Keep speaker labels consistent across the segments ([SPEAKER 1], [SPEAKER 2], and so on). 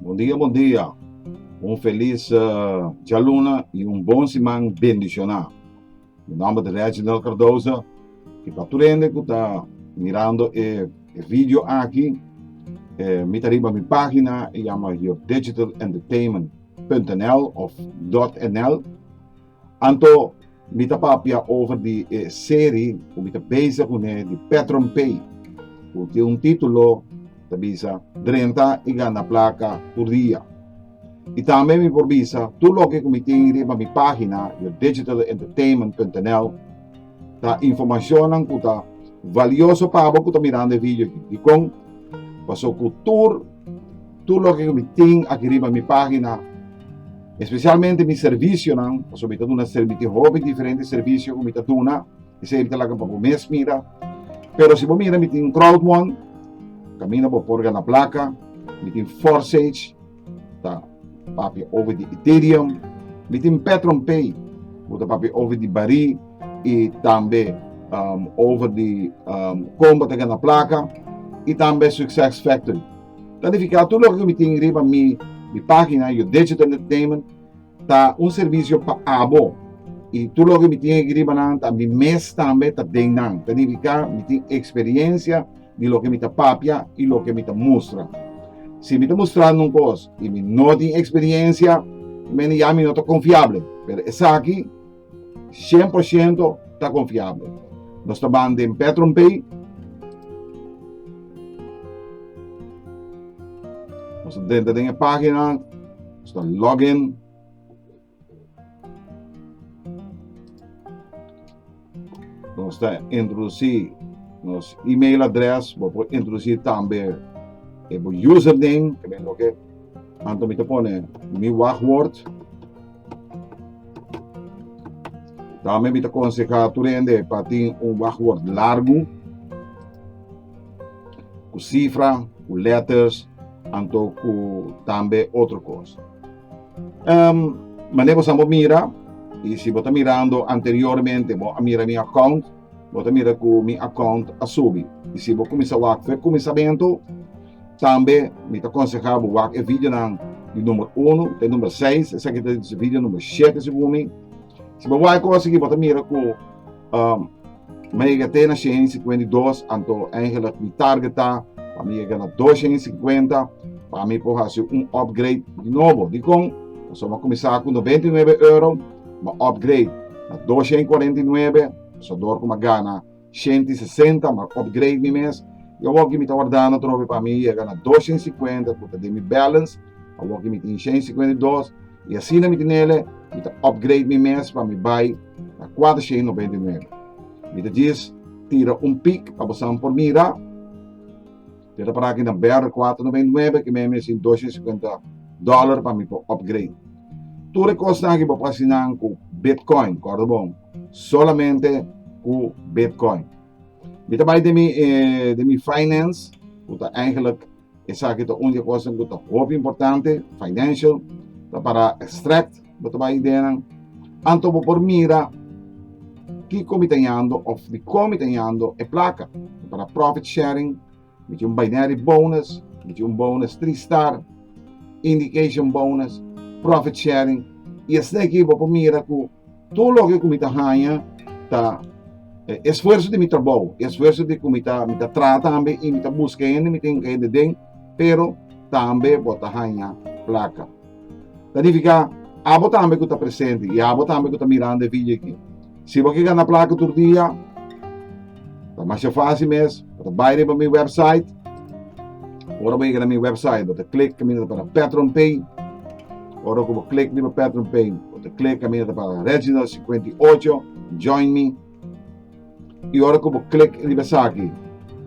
[SPEAKER 1] Bon dia bon dia un felis djaluna y un bon siman bendicioná mi nomber ta Reginald Cardoza y pa tur hende cu ta mirando e video aki mi ta riba mi pagina e yama yourdegitalentertainment.nl of dotnl. Anto mi ta papia over di e seri ku mi ta bezig un'é di Petron Pay ku tin un titulo ta bisa Drenta i gana plaka tur dia. I tambe mi por bisa tur loke ku mi tin riba mi página yourdegitalentertainment.nl ta informashonnan ku ta valioso pa bo ku ta mirando e video aki. Dikon? Paso ku tur. Tur loke ku mi tin aki riba mi pagina, espesialmente mi servisionan, pasobra mi ta duna servisio, hopi diferente servisio ku mi ta duna, esei mi ta laga pa bo mes mira. Pero si bo mira mi tin Crowdmon, kaminda bo por gana plaka, mi tin Forsage, ta papia over di Ethereum, mi tin PetronPay, ku ta papia over di Bari i tambe over di kon bo ta gana plaka, i tambe Success Factory. Planifiká tur loke ku mi tin riba mi página, your digital entertainment, ta un servisio pa abo i tur loke ku mi tin aki riba nan ta mi mes tambe ta den nan. Planifiká mi tin eksperiensia di loke mi ta papia i loke mi ta mustra. Si mi ta mustrando un kos i mi no tin eksperiensia, mende ya mi no ta konfiable. Pero esaki. 100 por ciento ta confiable. Nos ta ban den PetronPay. Nos denta den e página. Nos ta login. Nos ta introducí nos e-mail adres. Bo por introducí tambe e bo username. También lo que Anton mi te pone mi wachtwoord. Tambe mi ta konsehá tur hende pa tin un wachtwòrd largu ku sifra, ku lèters anto ku tambe otro kos. Um, mané bosan bo mira, y si bo ta mirando anteriormente, bo a mira mi account, Bo ta mira ku mi akount a subi. I si bo kuminsá wak fe kuminsamentu, tambe mi ta konsehá bo wak e videonan di number unu te number seis, esaki ta di video number shete segun mi. Si bo wak e kos aki bo ta mira ku mi a yega te na shen i sikuenta i dos, anto eingelik mi targeta pa mi yega na dos shen i sikuenta pa mi por hasi un upgrade di nobo. Dikon? Pasobra mi a kuminsá ku noventa i nuebe euro. ma upgrade na dos shen kuarenta i nuebe, pasador ku Magana shenti i sesenta, ma upgrade mi mes. I awoki mi ta wardando atrobe pa mi yega na dos shen sikuenta ku ta den mi balance, awoki mi tin shen sikuenta i dos, i asina mi tinele, mi ta upgrade mi mes pa mi bai na kuater shen nobenta i nuebe. Mi ta djis tira un pic pa bosan por mira. Yo ta para aki na BR kuater noventa i nuebe ke mi a mester tin dos shenta i sikuenta dòler pa mi por upgrade. Tur e kosnan aki bo por hasi nan ku Bitcoin, kòrda bon, solamente ku Bitcoin. Mi ta bai den mi den mi finance ku ta eigenlijk esaki ta un di e kosnan ku ta hopi importante, financial, ta para extract, Bo ta bai ideanan. Anto bo por mira kiko mi ta yando of dikon mi ta yando e plaka. Mi ta na profit sharing, mi tin un binary bonus, mi tin un bonus three star, indication bonus, profit sharing. I esei ki bo por mira ku tur loke ku mi ta haña ta e esfuerso di mi trabou, e esfuerso di ku mi ta mi ta traha tambe i mi ta buska hende mi tin ka hende den, pero tambe bo ta haña plaka. Planifiká, Abo tambe ku ta presente i abo tambe ku ta mirando e vidio aki, si bo ke gana plaka tur dia, ta masha fásil mes, bo ta bai riba mi wèpsait, ora bo yega na mi wèpsait bo ta klik kaminda ta para PatronPay, ora ku bo klik riba PatronPay bo ta klik kaminda ta para Reginald 58, Join Me. Y ora cu bo click riba esaki,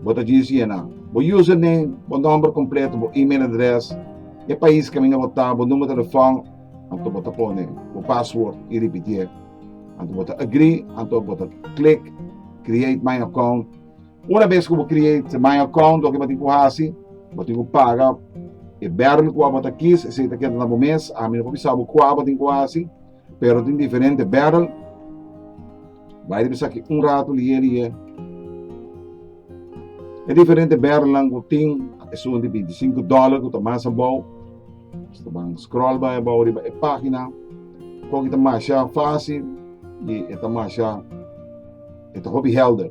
[SPEAKER 1] bo ta djis yena bo username, bo nomber completo, bo email address, e pais caminda bo ta, bo numero telefon, anto bo ta pone bo password y ripitié. Anto bo ta agree, anto bo ta click create my account. Una bes cu bo create my account, loke bo tin cu haci, bo tin cu paga e barrel cu bo ta kis, esey ta keda na bo mes, ami no por bisa bo cua bo tin cu haci. Pero tin diferente Beryl bai riba esaki un rato lié lié e diferente Berylnan ku tin esun un di binti sinku dòler ku ta mas abou so ta ban scroll bai abou riba e página koki ta masha fásil i e ta masha e ta hopi hèlder.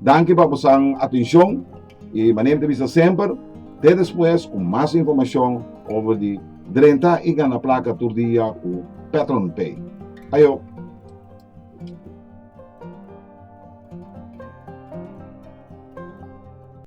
[SPEAKER 1] Danki pa bosan atencion y manera ta bisa semper te despues cu mas informacion over di drenta y gana placa tur dia cu PatronPay. Ayo.